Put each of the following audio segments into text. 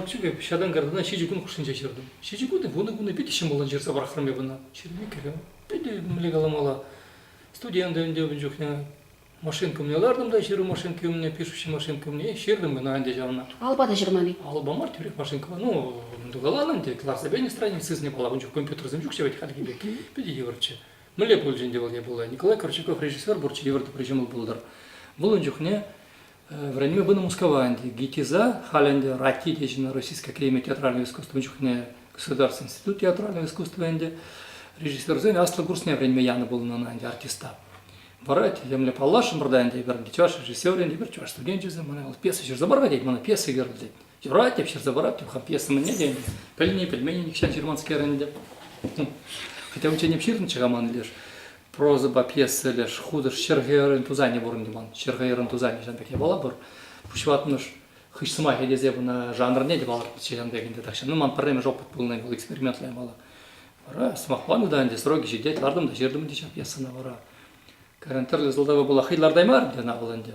Укҫипе ҫатан картана ҫичӗ кун хушшинче ҫыртӑм. Ҫичӗ кун вунӑ кунӗ питӗ ҫӑмӑллӑн ҫырса пӑрахрӑм эп ӑна. Ҫырми кӗрӗм. Питӗ мӗнле каламалла. Студент ӗнтӗ ун чухне машинка умне лартӑм та ҫыру машинки умне, пишущи машинка умне ҫыртӑм ӑна ӗнтӗ ҫавна. Алӑпа та ҫырман-и? Алӑпа мар тӳрех машинкӑпа. Ну, тукаланӑ ӗнтӗ, кӑларса пенӗ страница сысне пала. Ун чух компьютерсем ҫук ҫав ведь хальхи пек. Питӗ йывӑрччӗ. Мӗнле пулчӗ ӗнтӗ вӑл непулай? Николай Корчаков режиссер пур чирлӗ вӑр тӑпри ҫӑмӑл пултӑр. Вӑл ун чухне вӗренме пынӑ Мускава ӗнтӗ. ГИТИЗа, халь ӗнтӗ Рати течӗнӗ Российская академия театрального искусства ун чухне государственный институт театрального искусства ӗнтӗ. Режиссерсен аслӑ курсне вӗренме янӑ пулнӑ ӑна ӗнтӗ артиста. Вара темле паллашрӑмӑр та ӗнтӗ эпир ӗнтӗ чӑваш режиссерӗ ӗнтӗ эпир чӑваш студенчӗсем мана пьеса ҫырса пар-ха тет мана пьеса кӳрӗл тет. Типратьев ҫырса параттӑм, хапьес мӗнне те пӗлни, пӗлмени нихҫан ҫырманскер ӗнтӗ. Хотя унччен ҫырнӑччӗ-ха ман леш прозӑпа пьеса леш хутӑш ҫӗрхӗрӗн тусанӗ пурӑнтӑм ман. Ҫӗрхӗрӗн тусанӗ ҫан пек япала пур. Пуҫватмӑш хыҫ сӑмахӗ тесе куна жанрне те палӑртнӑччӗ ҫан пек ӗнтӗ. Тахҫан ну, ман пӗрремӗш опыт пулнӑ вӑл экспериментла япала. Вара сӑмахпа та ӗнтӗ сроки ҫитет, лартӑм та ҫыртӑм ӗнтӗ ҫав пьесана вара. Карен тӗрлӗ сӑлтава пула хӑй лартаймарӑм те ӑна вӑл ӗнтӗ.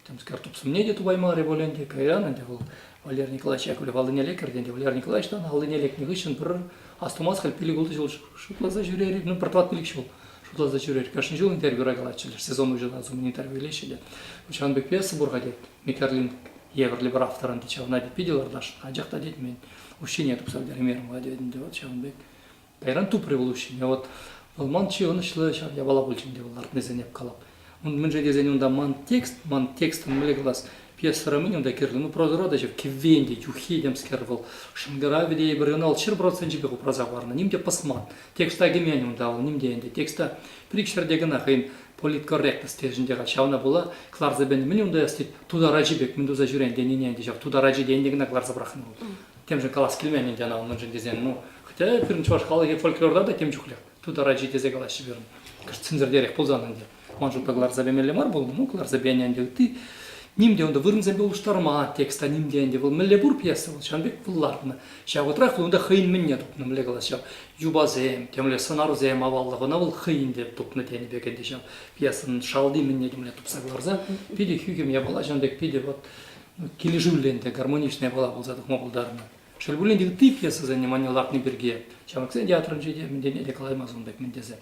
Темскер тупсӑмне те тупаймарӗ пуль ӗнтӗ, кайран ӗнтӗ вӑл Валерий Николаевич Яковлев аллинелле кӗртӗ ӗнтӗ. Валерий Николаевичтан аллине лекнӗ хыҫҫӑн пӗр астумас халь пилӗк-ултӑ ҫул шутласа ҫӳрер-и, ну пӗр-тӑват пилӗк ҫул шутласа ҫӳрер. Кашни ҫул интервью калатчӗлер, сезон уҫӑлас умӗн интервью илеҫҫӗ те. Ҫавӑн пек пьеса пур-ха тет. Микерлин евӗрлӗ пӗр автор ӗнтӗ, ҫавна тет питӗ ларташ, анчах та тет мен укҫине тупса пӗтермерӗм-ха тет ӗнтӗ, вот ҫавӑн пек Кайран тупрӗ вӑл уҫҫине. Вӑт, вӑл ман чи ӑнӑҫлӑ ҫав япала пулчӗ ӗнтӗ вӑл, лартнисене калап. Ун мӗншӗн тесен унта ман текст, ман текстӑн мӗнле калас, пьесӑра мӗн унта кирлӗ? Ну, прозӑра та ҫав, кӗввен те, юххи темскер вӑл, шӑнкӑравӗ те эпир ӑна шел проценчӗпех упраса хӑварнӑ. Ним те пӑсман. Текста кӗмен унта вӑл, ним те ӗнтӗ. Текста пӗр-ик ҫӗрте кӑна хӑйӗн политкорректность тесшӗнче-ха, ҫавна пула кӑларса пӗлнӗ. Мӗн унта ӑс тет, тутар ачи пек мӗн туса ҫӳрен тенине ӗнтӗ ҫав, тутар ачи те ӗнтӗ кӑна кӑларса пӑрахнӑ вӑл. темшӗн калас килмен ӗнтӗ ӑна унӑншӑн тесен, ну, хотя пирӗн чӑваш халӑхӗ фольклорта та тем чухлех. Тутар ачи тесе калаҫҫӗ пирӗн. Кӑшт сӗнсӗртерех пулсан ӗнтӗ. Ман шутпа кӑларса пемелле мар пулнӑ. Ну, кӑларса пенӗ ӗнтӗ ытти. Ним те унта вырӑнсемпе улӑштарма текста ним те ӗнтӗ. Вӑл мӗнле пур пьеса вӑл, ҫавӑн пек вӑл лартнӑ. Ҫав вӑхӑтрах унта хӑйӗн мӗнне тупнӑ, мӗнле калас ҫав, юпасем, темле сӑнарсем аваллӑх, ӑна вӑл хӑйӗн те тупнӑ тенӗ пек ӗнтӗ ҫав. Пьесӑн шалти мӗнне те мӗнле тупса кӑларса питӗ хӳхӗм япала ҫавӑн пек питӗ вот килӗшӳллӗн те гармоничная была пулса тухма пултарнӑ. Шел пулин те, ытти пьесӑсене манне лартни пирки ҫамрӑксен театрӗнче те мӗнтен те калаймас ун пек мӗн тесе.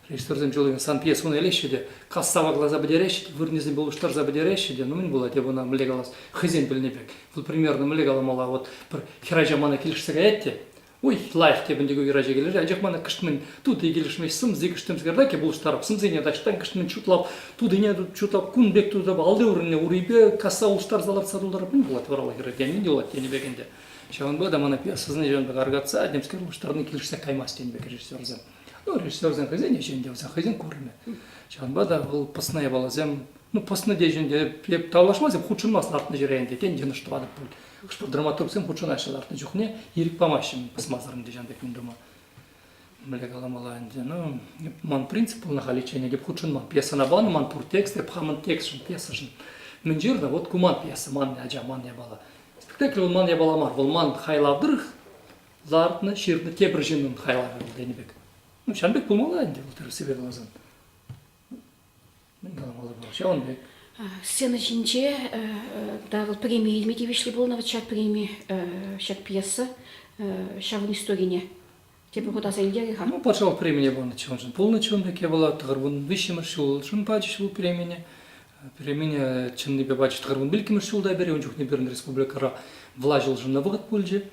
Режиссерсем чул сан пьесуна илеҫҫӗ те кассава класа пӗтереҫҫӗ те, вырӑнӗсем пулӑштарса пӗтереҫҫӗ те, ну мӗн пулать эп ӑна мӗнле калас, хӑйсен пӗлнӗ пек. Вӑл, примерно, мӗнле каламалла, вот пӗр хӗрача мана килӗшсе каять те, Ой, лайӑх те пӗнтӗ уйра чекелер, анчах мана кӑштман тутый килӗшмест сӑмси кӑштӑмскерта пулӑштарӑп, сӑмсине таҫтан кӑштман чутлап, тутине чутлап кун пек тутап алли урӑнне урипе касса улӑштарса лартса тултарап не пулать вара хӗре тени не пулать тенӗ пек ӗнтӗ. Ҫавӑнпа та мана сознание пек аркатса темскер улӑштарни килӗшсе каймасть тенӗ пек режиссерсем. Ну, режиссерсем хӑйсен ӗҫӗн те, хӑйсен курӑмӗ. Ҫавӑнпа та вӑл пӑсна япаласем Ну, пӑснӑ те ӗнтӗ, эп тавлашмастӑп, хутшӑнмасть лартнӑ ҫӗре ӗнтӗ. Тен, йӑнӑш тӑватӑп пуль. Хӑш-пӗр драматургсем хутшӑнаҫҫӗ лартнӑ чухне, ирӗк памаҫҫӗ пӑсмасӑр ӗнтӗ ҫан пек юн тума. Мӗнле каламалла ӗнтӗ, ну, ман принцип пулнӑ халиччен, эп хутшӑнман пьесӑна панӑ ман пур текст, эп хамӑн текстшӑн, пьесӑшӑн мӗн ҫырнӑ, вот ку ман пьеса, манӑн ача, манӑн япала. Спектакль вӑл ман япала мар, вӑл ман хайлав тӑрӑх лартнӑ, ҫырнӑ тепӗр ҫыннӑн хайлавӗ вӑл тенӗ пек. Ну, ҫан пек пулмалла ӗнтӗ, вӑл тӗрӗссипе каласан. Мӗн каламалла пулать ҫавӑн пек. Сцена ҫинче та вӑл преми илме тивӗҫлӗ пулнӑ вот ҫак преми, ҫак пьеса ҫавӑн историне тепӗр хут аса илтерӗ-ха. Ну, патшалӑх премине панӑ чӑн-чӑн пулнӑ чун пекки вӑл тӑхӑрвун виҫҫӗмӗш ҫул чун пачӗҫ вӑл премине. Премине чӑннипе пачӗҫ тӑхӑрвун вилккӗмӗш ҫулта пӗри ун чухне пирӗн республикӑра влаҫ улшӑннӑ вӑхӑт пулчӗ.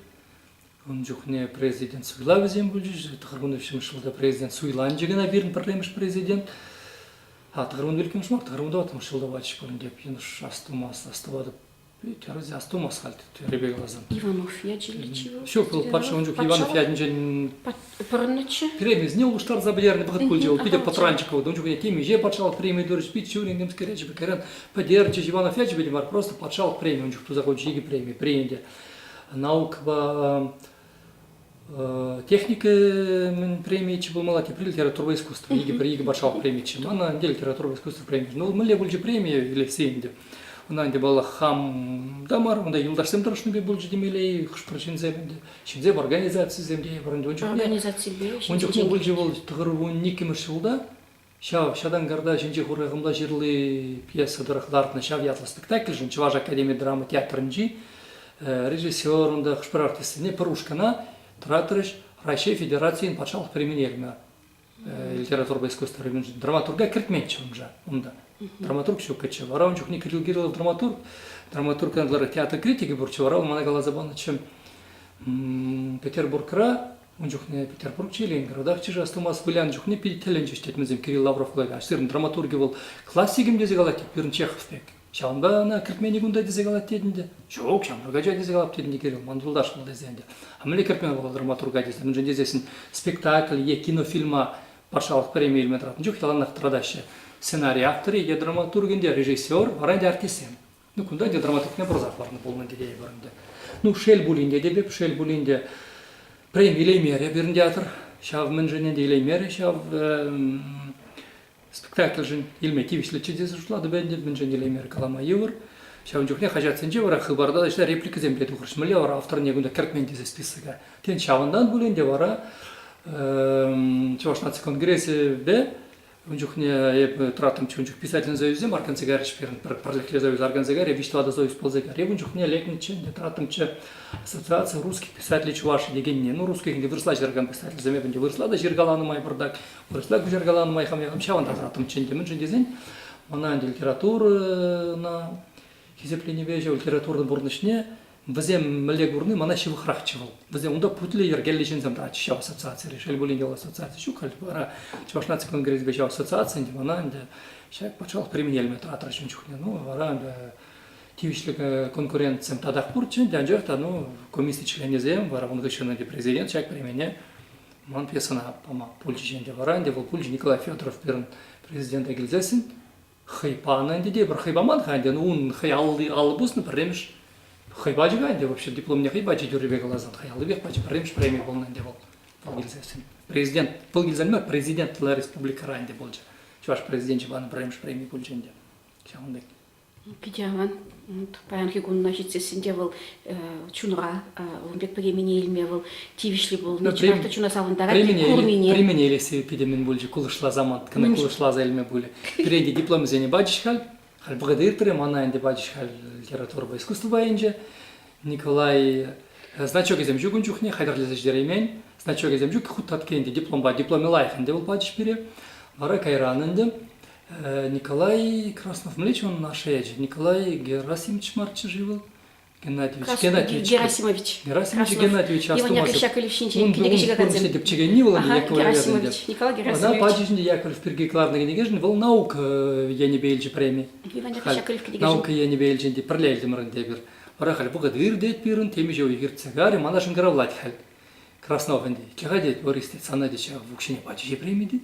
Ун чухне президент суйлавӗсем пулчӗҫ. Тӑхӑрвунӑ виҫҫӗмӗш ҫулта президент суйланчӗ кӑна пирӗн пӗрремӗш президент. А тӑхӑрвун иккӗмӗш мар, тӑхӑрвун тӑваттӑмӗш ҫулта пачӗ тӗп йӑнӑш астумас, астӑватӑп. Терӗ астумас халь тӳрӗпе каласан. Иванов ячӗ ничего. Ҫук, вӑл патша ун чух Иванов ятӗнчен пӑрӑннӑччӗ. Кремльне улӑштарса пӗтернӗ вӑхӑт пулчӗ вӑл. Питӗ пӑтранчӑк вӑл. Ун чухне темиҫе патшалӑх преми турӗҫ, пит ҫывӑрин темскер ячӗпе кайран пӗтерчӗ. Иванов ячӗпе те мар, просто патшалӑх преми ун чух туса хучӗ. Икӗ преми приняли. наукӑпа техника мӗн премийчӗ пулмалла тепри литература искусства икӗ пӗр икӗ патшалӑх премийччӗ мана ӗнтӗ литература искусства премийччӗ ну мӗнле пулчӗ премия или все ӗнтӗ ӑна ӗнтӗ баллах хам та мар унта юлташсем тӑрӑшнӑ пек пулчӗ темелле хӑш-пӗр ҫынсем ӗнтӗ ҫынсем организацисем те ун чухне пулчӗ вӑл иккӗмӗш ҫулта Ҫав Ҫатанкарта ҫинче хурахӑмла ҫырли пьеса тӑрӑх лартнӑ ҫав ятлӑ спектакльшӗн Чӑваш академи драма театрӗнчи режиссерӑн та хӑш-пӗр артистсене пӗр ушкӑна тӑратрӗҫ, Раҫҫей Федерацийӗн патшалӑх премине илнӗ литературӑпа искусство районӗнчен драматурга кӗртменччӗ унша унта. Драматург ҫуккаччӗ. Вара ун чухне Кирилл Кириллов драматург, драматургтан ытларах театр критики пурччӗ, вара вӑл мана каласа панӑччӗ Петербургра Ун чухне Петербургчи, Ленинградахчӗ-ши астумас, вылянӑ чухне питӗ тӗлӗнчӗҫ тытмансем Кирилл Лавров кулакан. Сирӗн драматурги вӑл классикӗм тесе калать тет, пирӗн Чехов пек. Ҫавӑнпа ӑна кӗртменник унта тесе калать тет ӗнтӗ. Ҫук, ҫамрӑк ача тесе калап тет ӗнтӗ Кирилл, ман юлташ вӑл тесе ӗнтӗ. А мӗнле кӗртмен вӑл драматурга тесе, мӗншӗн тесессӗн спектакль е кинофильма патшалӑх премийӗ илме тӑратнӑ чух яланах тӑратаҫҫӗ. Сценарий авторӗ е драматург ӗнтӗ, режиссер, вара ӗнтӗ артистсем. Ну, кунта ӗнтӗ драматургне пырса хӑварнӑ пулнӑ тететӗпӗр ӗнтӗ. Ну, шел пулин те, теп, шел пулин те, прем илеймерӗ пирӗн театр. Ҫав мӗншӗн ӗнтӗ илеймерӗ, ҫав спектакльшӗн илме тивӗҫлӗччӗ тесе шутлатӑп ӗнтӗ, мӗншӗн илеймерӗ калама йывӑр. Ҫавӑн чухне хаҫатсенче вара хыпарта ӗҫле репликӑсем пе тухрӑҫ. Мӗнле вара авторне кунта кӗртмен тесе списока. Тен, ҫавӑнтан пулин те вара Чӑваш наци конгресӗпе Ун чухне эпӗ тӑраттӑмччӗ, ун чух писательсен союзӗсем арканса кайрӗҫ-пер, пӗр пӗрлӗхлӗ союз арканса кайрӗ, виҫ-тӑватӑ союз пулса кайрӗ. Эп ун чухне лекнӗччӗ ӗнтӗ, тӑраттӑмччӗ. Ассоциация русский писатель чуваши текенне. Ну, русских ӗнтӗ вырӑсла ҫыракан писательсем эп ӗнтӗ вырӑсла та ҫыркаланӑ май пӑртак, вырӑсла куҫаркаланӑ май хам-хам ҫавӑнта тӑраттӑмччӗ ӗнтӗ. Мӗншӗн тесен мана ӗнтӗ литературӑна хисепленипе ҫав литературӑн пурнӑҫне Вӗсем мӗнле курни мана ҫывӑхрахчӗ вӑл. Вӗсем унта путлӗ йӗркеллӗ ҫынсем тӑратчӗҫ ҫав ассоциацире. Шел пулин те, вӑл ассоциаци ҫук халь вара. Чӑваш наци конгресӗпе ҫав ассоциаци ӗнтӗ мана ӗнтӗ ҫак патшалӑх премьерӗме тӑратрӗ ҫун чухне. Ну, вара ӗнтӗ тивӗҫлӗ конкуренцим татах пурччӗ ӗнтӗ, анчах та ну, комисси членӗсем вара ун хыҫҫӑн ӗнтӗ президент ҫак премине ман пьесӑна пама пулчӗҫ ӗнтӗ. Вара ӗнтӗ вӑл пулчӗ Николай Федоров пирӗн президента килсессӗн. хӑй панӑ ӗнтӗ те пӗр хӑй паман-ха ӗнтӗ ун хӑй алли алӑ пуснӑ пӗрремӗш хӑй пачӗ-ха ӗнтӗ вообще дипломне хӑй пачӗ тӳррипе каласан хӑй аллипех пачӗ пӗрремӗш преми пулнӑ ӗнтӗ вӑл вӑл килсессӗн президент вӑл килсен мар президент тӑла республикӑра ӗнтӗ пулчӗ чӑваш президенчӗ панӑ пӗрремӗш преми пулчӗ ӗнтӗ ҫавӑн пек питӗ аван Паянхи кунна ҫитсессӗн те вӑл чунра ун пек пӗкемене илме вӑл тивӗҫли пулнӑ. Чӑнах та чуна савӑнтарать. Курнине. Премине илесси питӗ мӗн пулчӗ кулӑшласа ман кӑна кулӑшласа илме пулӗ. Пирӗнте дипломсене пачӗҫ халь. Халь вӑхӑта иртрӗ, мана ӗнтӗ пачӗҫ халь литературӑпа искусство пайӗнче. Николай значокӗсем ҫук ун чухне, хатӗрлесе ҫитереймен. Значокӗсем ҫук, хут татки ӗнтӗ дипломпа, дипломӗ лайӑх ӗнтӗ вӑл пачӗҫ пире. Вара кайран ӗнтӗ Николай Краснов мӗнле чун ашшӗ ячӗ? Николай Герасимович марччӗ-ши вӑл? Геннадьевич Геннадьевич Герасимович Герасимович Геннадьевич Астумасов ун курнӑҫне тӗпчекенни вӑл ӗнтӗ Яковлев язынӗ Николай Герасимович ӑна пачӗ ҫинче Яковлев пирки кӑларнӑ кӗнекешӗн вӑл наука енӗпе илчӗ преми наука енӗпе илчӗ ӗнтӗ пӗрле илтӗмӗр ӗнтӗ эпир вара халь вӑхӑт иртет пирӗн темиҫе уйӑхиртсе карӗ мана шӑнкӑравлать халь Краснов ӗнтӗ чӑха тет Борис тет сана тет ҫав укҫине пачӗҫe преми тет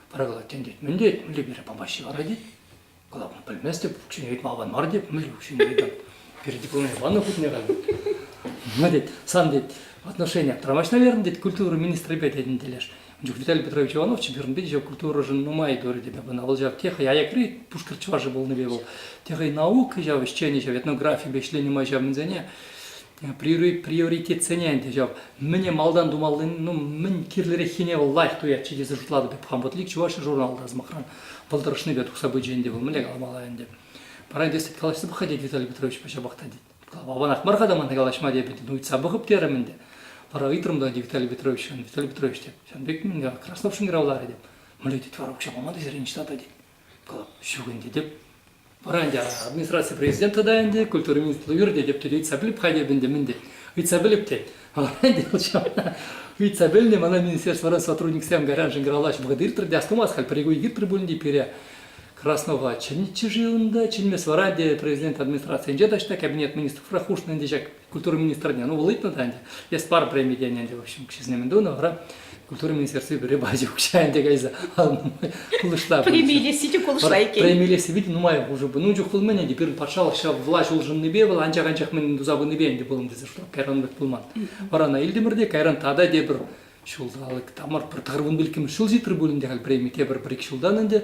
Пӗрре тентет, мӗн тет, мӗнле пире памаҫҫӗ вара тет. Кала, пӗлместӗп, укҫине ыйтма аван мар теп, мӗнле укҫине ыйтам. Пире дипломне панӑ хутне кам. Ма тет, сан тет, отношение траваҫ, наверное, тет, культура министрӗпе тетӗн телеш. Ун чух Виталий Петрович Иванов чемпионатпе еще культурӑшӑн нумай говорит тебе пынӑ. Вӑл ҫав теха аякри пушкӑр чӑвашӗ пулнипе вӑл. Теха и наука, ҫав ӗҫченӗ, ҫав этнографипе ӗҫленӗ май ҫав мӗнсене. приоритетсене ӗнтӗ ҫав мӗне малтан тумаллин ну мӗн кирлӗреххине вӑл лайӑх туять чӗтесе шутлатӑп эп хам вот лик чуваши журналта сӑмахран пӑлтӑрӑшнипе тухса пычӗ ӗнтӗ вӑл мӗнле каламалла ӗнтӗ пара калаҫса пӑхать тет Виталий Петровичпа ҫапах та тет аванах мар-ха та мана калаҫма теп ӗнтӗ ну ыйтса пӑхӑп терӗм ӗнтӗ вара ыйтрӑм та ӗнтӗ Виталий Петрович Виталий Петрович теп сан пек мӗн Краснов шунгравларӗ теп мӗнле тет вара укҫа пама та сире ниҫта та тет ҫук ӗнтӗ тӗп вара ӗнтӗ администраци президента та ӗнтӗ культура министру иртетӗп те ыйтса пӗлӗп халӗ ӗнтӗ мӗн те ыйтса пӗлӗп те ӗнтӗ ыйтса пӗлнӗ мана министерствӑран сотрудниксем кайраншӑн калаҫ вӑхӑт иртрӗ те астумас халь пӗр уй иртрӗ пулин те пире Краснова чӗннӗччӗ-ши унта чӗнмес вара ӗнтӗ президент администрацийӗнче та ҫта кабинет министров хушнӑ ӗнтӗ ҫак культура министрне, ну, вӑл ыйтнӑ та ӗнтӗ, эс пар преми тенӗ ӗнтӗ, в общем, честно ему дунӑ, вара культура министерстви пире пачӗ укҫа ӗнтӗ кайса, ал кулӑшла. Преми илесси те кулӑшла иккен. Преми илесси питӗ нумай пулши пуль. Ну, чух пулмӗн ӗнтӗ, пирӗн патшалӑх ҫав влаҫ улшӑннипе вӑл анчах-анчах мӗн туса пынипе ӗнтӗ пулӑм тесе, что кайран вӗт пулман. Вара ӑна илтӗмӗр те, кайран тата тепӗр Ҫулталӑк тамӑр пӗр тӑхӑрвун пилӗкмӗш ҫул ҫитрӗ пулин те халь преми тепӗр пӗр-ик ҫултан ӗнтӗ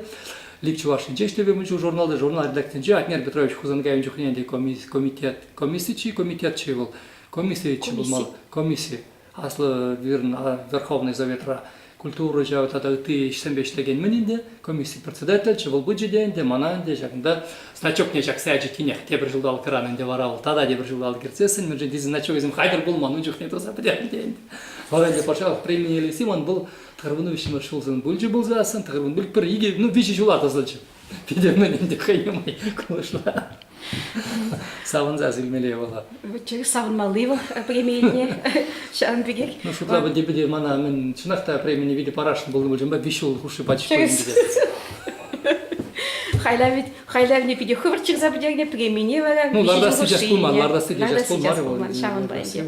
Лик Чӑвашӗнче ӗҫлеме мӗн чух журналта журнал редакцинче Атнер Петрович Хусанкайӑн чухне ӗнтӗ комитет комисси чи комитетчи вӑл комиссиеччӗ пулмалла комисси аслӑ вырӑн Верховнӑй Советра культура ҫав тата ытти ӗҫсемпе ӗҫлекен-мӗн ӗнтӗ комисси председательччӗ вӑл пычӗ те ӗнтӗ мана ӗнтӗ ҫакӑнта Значокне ҫакса ячӗ тинех тепӗр ҫулталӑкран ӗнтӗ вара вӑл тата тепӗр ҫулталӑк иртсессӗн мӗншӗн тесе значокӗсем хатӗр пулман ун чухне тӑрса пӗтернӗ те ӗнтӗ. Вӑл ӗнтӗ патшалӑх премине илсем он был тӑхӑрвунӑ виҫҫӗмӗш ҫулсӑн пулчӗ пулсассӑн тӑхӑрвун пуль пӗр икӗ ну виҫӗ ҫула тӑсӑлчӗ. Питӗ мӗн ӗнтӗ хӑй нумай кулӑшла. Савӑнсах илмелле вӑл. чӗлӗх савӑнмалли вӑл преми илни ҫавӑн пекех. Ну шутла бы тепӗте мана мӗн чӑнах та премине витӗ парасшӑн пулнӑ пулчӗ, виҫ ҫул хушши пачах хайлавӗ хайлавне питӗ хӑвӑрт ҫырса пӗтернӗ премине вара ну лардас сейчас пулман лардас сейчас пулман ҫавӑнпа ӗнтӗ